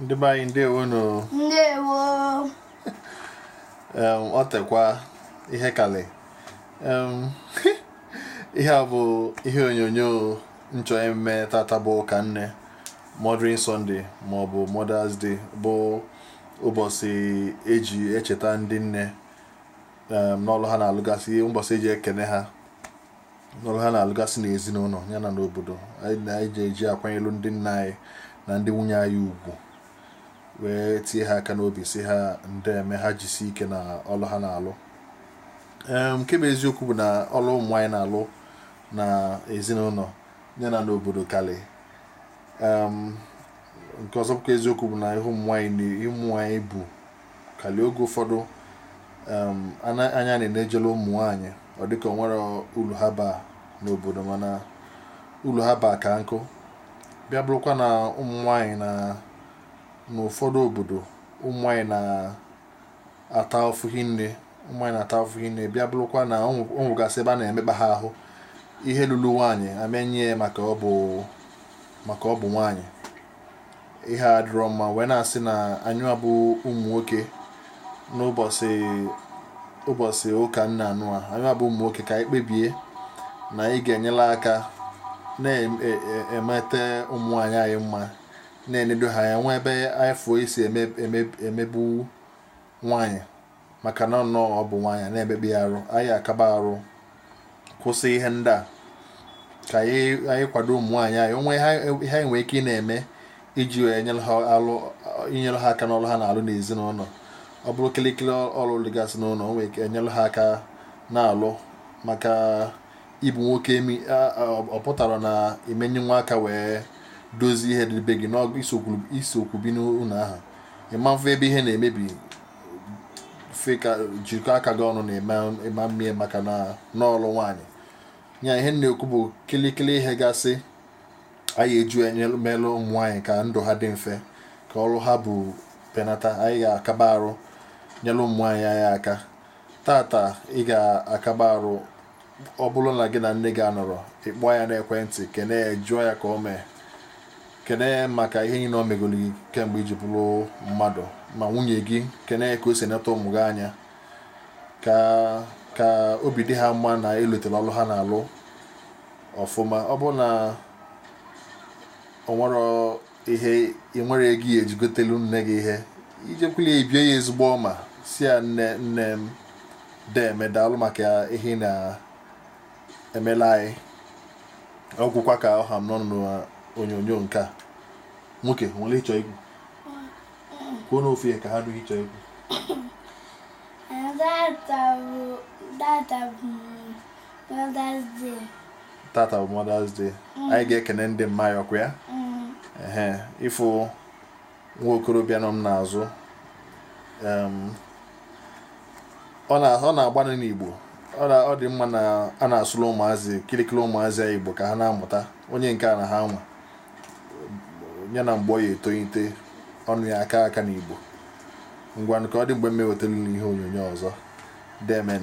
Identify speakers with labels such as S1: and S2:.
S1: ndị be anyị ndewo nụ ndewo ọ tekwa ihe kalị ihe a bụ ihe onyonyo m chọ ime tata bụ ụka nne Mothering Sunday ma ọ bụ Mother's Day bụ ụbọsị eji echeta ndị nne n'ọlụ ha na-alụgasị ụbọsị eji ekene ha n'ọlụ ha na-alụgasị n'ezinụnọ ya na n'obodo anyị ji akwanyelu ndị nne anyị na ndị nwunye anyị ugwu wee tie ha aka n'obi sị ha ndeme ha jisi ike na ọlụ ha na-alụ nke bụ eziokwu bụ na ọlụ ụmụ nwaanyị na-alụ na ezinụnọ ya na n'obodo kalị nke ọzọ bụkwa eziokwu bụ na ihe ụmụ nwaanyị bu kalị oge ụfọdụ anya na na-ejele ụmụ nwaanyị ọ dịka o nwerọ ulu ha baa n'obodo mana ulu ha baa ka nkụ bịa bụrụkwa na ụmụ nwaanyị na n'ụfọdụ obodo ụmụ nwaanyị na-ata afụfụ hinne bịa bụrụkwa na o nwe- o nwegasị ebe a na-emekpa ha ahụ ihe lulu nwaanyị a ma-enye ya maka ọ bụ nwaanyị ihe a dịrọ mma wee na-asị na anyị nwa bụ ụmụ nwoke n'ụbọsị ụka nne nụnwa anyị nwa bụ ụmụ nwoke ka anyị kpebie na anyị ga-enyela aka na-emeta e, e, ụmụ nwaanyị anyị mma na-enedo ha anya o nwee ebe anyị fụ e si emegbu nwaanyị maka na nnọọ ọ bụ nwaanyị na-emekpa ya arụ anyị akaba arụ kwụsị ihe ndị a ka anyị kwado ụmụ nwaanyị anyị o nwee ihe anyị nwee ike ị na-eme iji inyere ha aka n'ọrụ ha na-alụ n'ezinụnọ ọ bụrụ kịlịkịlị ọrụ dịgasị n'ụlọ o nwere ike enyere ha aka na-alụ maka ịbụ nwoke em ọ pụtarọ na ị ma-enyenwu aka wee dozie ihe dị be gị na gị sokwu bi n'ụnọ ahụ ị ma-afụ ebe ihe na-emebi si ka jikọ aka gị ọnụ na ị ma-eme ya maka na ọ ọlụ nwaanyị ya ihe m na-ekwu bụ kịlịkịlị ihe gasị anyị je emelụ ụmụ nwaanyị ka ndụ ha dị mfe ka ọrụ ha bu penata anyị ga-akaba arụ nyelụ ụmụ nwaanyị anyị aka tata ị ga-akaba arụ ọ bụrụ na gị na nne gị anọrọ ị kpọọ ya n'ekwentị kene ya jụọ ya ka o mee kene ya maka ihe niile o megolu gị kemgbe i ji bụrụ mmadụ ma nwunye gị kene ya ka o si neta ụmụ gị anya ka obi dị ha mma na e lotere ọlụ ha na-alụ ọfụma ọ bụrụ na o nwere ihe ị nwere ego ị ya-eji gotelu nne gị ihe i jekwulu ya i bie ya ezigbo ọma sị ya nne m deme daalụ maka ihe ị na-emela anyị ọ gwụkwa ka ọ ha m n'ọnụ n'onyonyo nke a nwoke o nwere ị chọ ikwu kwuo n'ofe ya ka ha dụghị ịchọ ikwu Mother's Day. tata bụ Mother's Day anyị ga-ekene ndị mma ya ọ kwa ya ehe ị fụ nwa okorobịa nọ m n'azụ em, ọ na- ọ na-agbanụ n'Igbo ọ na- ọ dị mma na a na-asụlụ ụmụazị kịlịkịlị ụmụazị anyị Igbo ka ha na-amụta onye nke a na ha nwa ya na mgbe ọ ya-etolite ọnụ ya aka aka n'Igbo ngwanụ ka ọ dị mgbe m ewetelu unu ihe onyonyo ọzọ demen